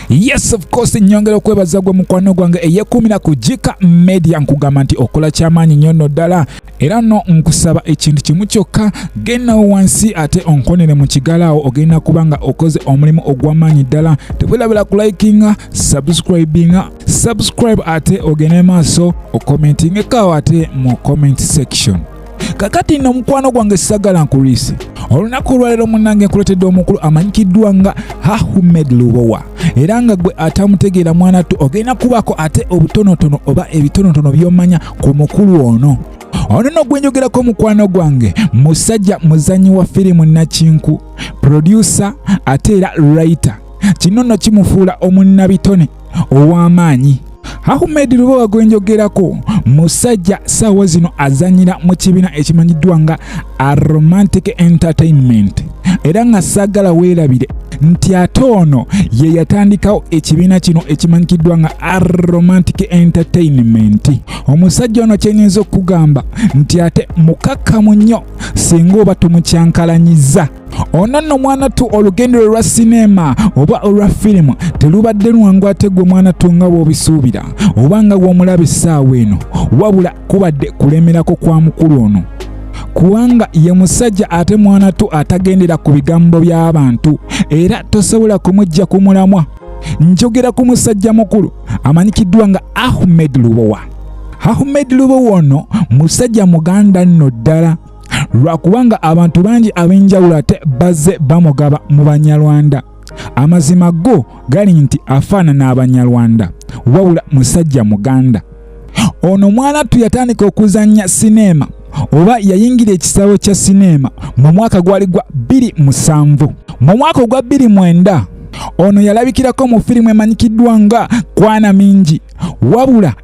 Yes of course nyongera okwebaza gwe mukwano gwange eyekumira ku Jika Media nkugamba nti okola kyamaanyi nnyo nno ddala era no nkusaba ekintu kimu kyokka genda wansi ate onkonere mu kigala awo ogenda kuba nga okoze omulimu ogw'amaanyi ddala tewerabira ku likinga subscribinga subscribe ate ogende maaso okomentingeko awo ate mu comment section kakati nno mukwano gwange sagala nkuliise olunaku olwaleero munange nkuletedde omukulu amanyikiddwa nga hahumed lubowa era nga gwe atamutegeera mwana tu ogenda kubaako ate obutonotono oba ebitonotono byomanya ku mukulu ono ono no gwenjogerako mukwano gwange musajja muzanyi wa firimu nakinku producer ate era writer kino no kimufuula omunnabitone ow'amaanyi Ahmed Lubowa gwe njogerako musajja saawa zino azanyira mu kibiina ekimanyiddwa nga Aromantic Entertainment era nga saagala weerabire nti ate ono ye yatandikawo ekibiina kino ekimanyikiddwa nga Aromantic Entertainment. Omusajja ono kyenyinza okugamba nti ate mukakkamu nnyo singa oba tomukyankalanyizza. ono nno mwana tu olugendo lwe lwa sineema oba olwa firimu telubadde lwangu ate gwe mwana tu nga bw'obisuubira oba nga bw'omulaba essaawa eno wabula kubadde kulemerako kwa mukulu ono kubanga ye musajja ate mwana tu atagendera ku bigambo by'abantu era tosobola kumujja ku mulamwa njogera ku musajja mukulu amanyikiddwa nga ahmed lubowa ahmed lubowa ono musajja muganda nno ddala lwakubanga abantu bangi ab'enjawulo ate bazze bamugaba mu banyarwanda amazima go gali nti afaanana abanyarwanda wabula musajja muganda ono mwanattu yatandika okuzannya sineema oba yayingira ekisaawe kya sineema mu mwaka gwali gwa 27 mu mwaka ogwa 29 ono yalabikirako mu firimu emanyikiddwa nga kwana mingi wabula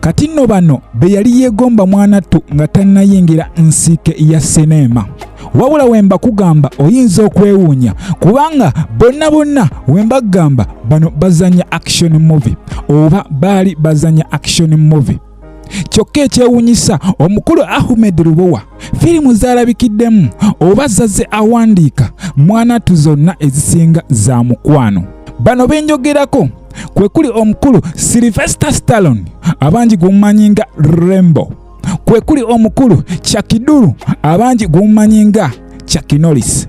kati nno bano be yali yeegomba mwanattu nga tannayingira nsiike ya sineema wabula we mbakugamba oyinza okwewuunya kubanga bonna bonna we mbagamba bano bazanya action movie oba baali bazanya action movie kyokka ekyewuunyisa omukulu ahmed lubowa firimu zalabikiddemu oba zazze awandiika mwanatu zonna ezisinga za mukwano bano benjogerako kwe kuli omukulu silvester stallon abangi gumumanyi nga rembo kwe kuli omukulu chakidulu abangi gumumanyi nga chakinolis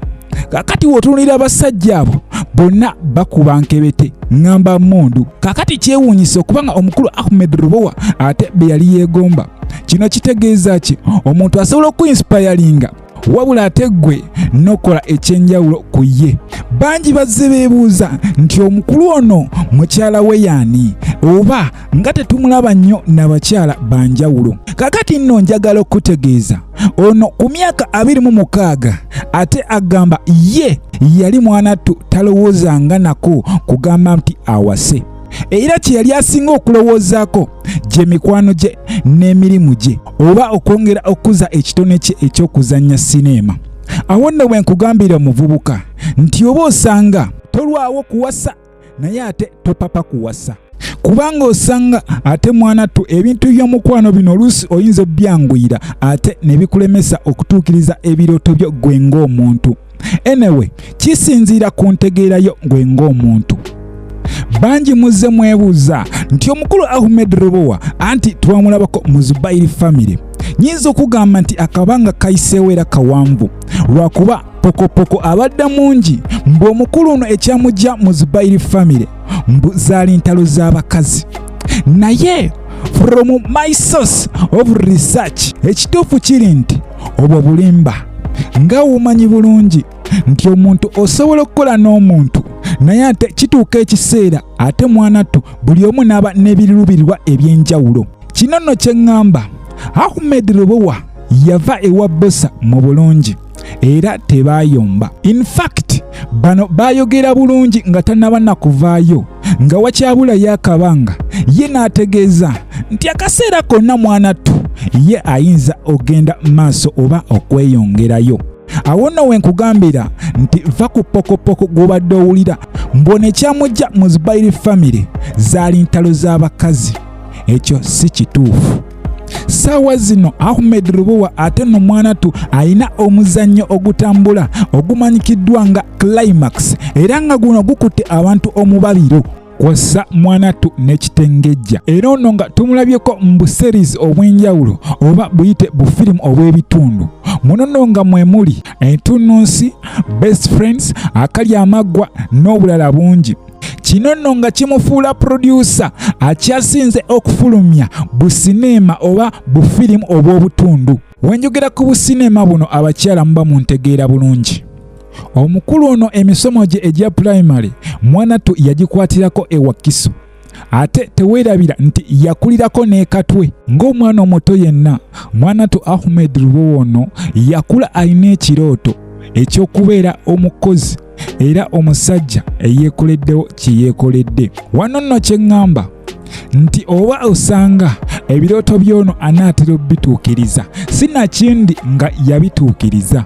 kakati wotunulira abasajja abo bonna bakuba nkebete ngamba mundu kakati kyewuunyisa okubanga omukulu ahmed rubowa ate be yali yeegomba kino kitegeeza ki omuntu asobola okuinsipayalinga wabula ate ggwe nokola ekyenjawulo ku ye bangi bazze beebuuza nti omukulu ono mukyala we yaani oba nga tetumulaba nnyo nabakyala banjawulo kakati nno njagala okutegeeza ono ku myaka abiri mu mukaaga ate agamba ye yali mwanattu talowoozanga nako kugamba nti awase era kye yali asinga okulowoozaako gye mikwano gye n'emirimu gye oba okwongera okukuza ekitone kye eky'okuzannya sineema awo nno bwe nkugambira omuvubuka nti oba osanga tolwawo kuwasa naye ate topapa kuwasa kubanga osanga ate mwana tu ebintu by'omukwano bino oluusi oyinza obyanguyira ate ne bikulemesa okutuukiriza ebirooto byo gwe ng'omuntu anyway kisinziira ku ntegeera yo gwe ng'omuntu bangi muzze mwebuuza nti omukulu ahmed robowa anti twamulabako mu zubairi famire nyinza okugamba nti akabanga kayiseewo era kawanvu lwakuba pokopoko abadde mungi mbu omukulu ono ekyamujja mu zubairi famire mbu zaali ntalo z'abakazi naye from my source of research ekituufu kiri nti obwo bulimba nga wumanyi bulungi nti omuntu osobola okukola n'omuntu naye ate kituuka ekiseera ate mwanattu buli omu n'aba n'ebirubirirwa eby'enjawulo kino nno kye ŋŋamba ahmed lubowa yava ewa bosa mu bulungi era tebayomba infact bano bayogera bulungi nga tanaba nakuvaayo nga wakyabulayo akabanga ye n'ategeeza nti akaseera konna mwana ttu ye ayinza ogenda maaso oba okweyongerayo awo nno we nkugambira nti va ku pokopoko gw'obadde owulira mbwone kyamujja mu zibayiri famire zaali ntalo z'abakazi ekyo si kituufu ssaawa zino ahmed lubowa ate no mwanatu alina omuzannyo ogutambula ogumanyikiddwa nga climax era nga guno gukutte abantu omubabiro kwassa mwanatu n'ekitengejja era ono nga tumulabyeko mu buseries obw'enjawulo oba buyite bufirimu obw'ebitundu munono nga mwe muli entunnunsi best friends akalya amaggwa n'obulala bungi kino nno nga kimufuula purodyusa akyasinze okufulumya busineema oba bufirimu obw'obutundu wenjogera ku busineema buno abakyala muba mu ntegeera bulungi omukulu ono emisomo gye egya pulayimale mwanatu yagikwatirako ewakiso ate teweerabira nti yakulirako n'ekatwe ng'omwana omuto yenna mwanatu ahmed lubowa ono yakula alina ekirooto ekyokubeera omukozi era omusajja eyeekoleddewo kye yeekoledde wano nno kye ŋŋamba nti oba osanga ebirooto by'ono anaatera obituukiriza si nakindi nga yabituukiriza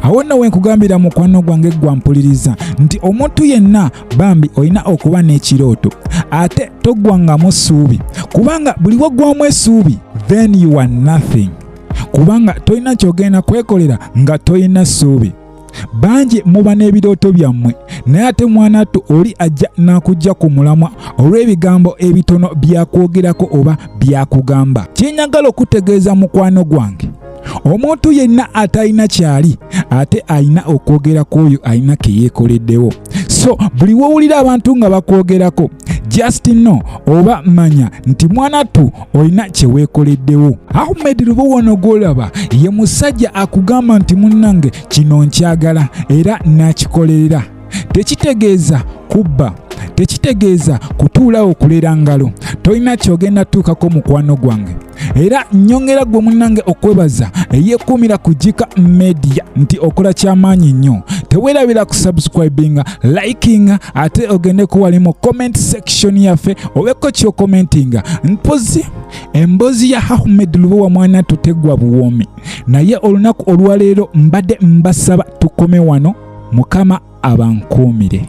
awo nno wenkugambira mukwano gwange gwampuliriza nti omuntu yenna bambi olina okuba n'ekirooto ate toggwangamu ssuubi kubanga buli waggwamu essuubi then you are nothing kubanga tolina kyogenda kwekolera nga tolina ssuubi bangi muba n'ebirooto byammwe naye ate mwanattu oli ajja n'akujja ku mulamwa olw'ebigambo ebitono byakwogerako oba byakugamba kyenyagala okutegeeza mukwano gwange omuntu yenna atalina kyali ate alina okwogera ku oyo alina ke yeekoleddewo so buli wowulira abantu nga bakwogerako just no oba manya nti mwanattu olina kyeweekoleddewo ahmed lubowono gwolaba ye musajja akugamba nti munnange kino nkyagala era nakikolerera tekitegeeza kubba tekitegeeza kutuulawo okulera ngalo tolina kyogenda tuukako mukwano gwange era nyongera gwe munange okwebaza eyekuumira ku jika media nti okola kyamaanyi nnyo tewerabira kusubscribinga likinga ate ogende ku wali mu comment section yaffe obeko kyokomentinga mpozi emboozi ya hamed lubowa mwana tutegwa buwoomi naye olunaku olwaleero mbadde mbasaba tukome wano mukama abankuumire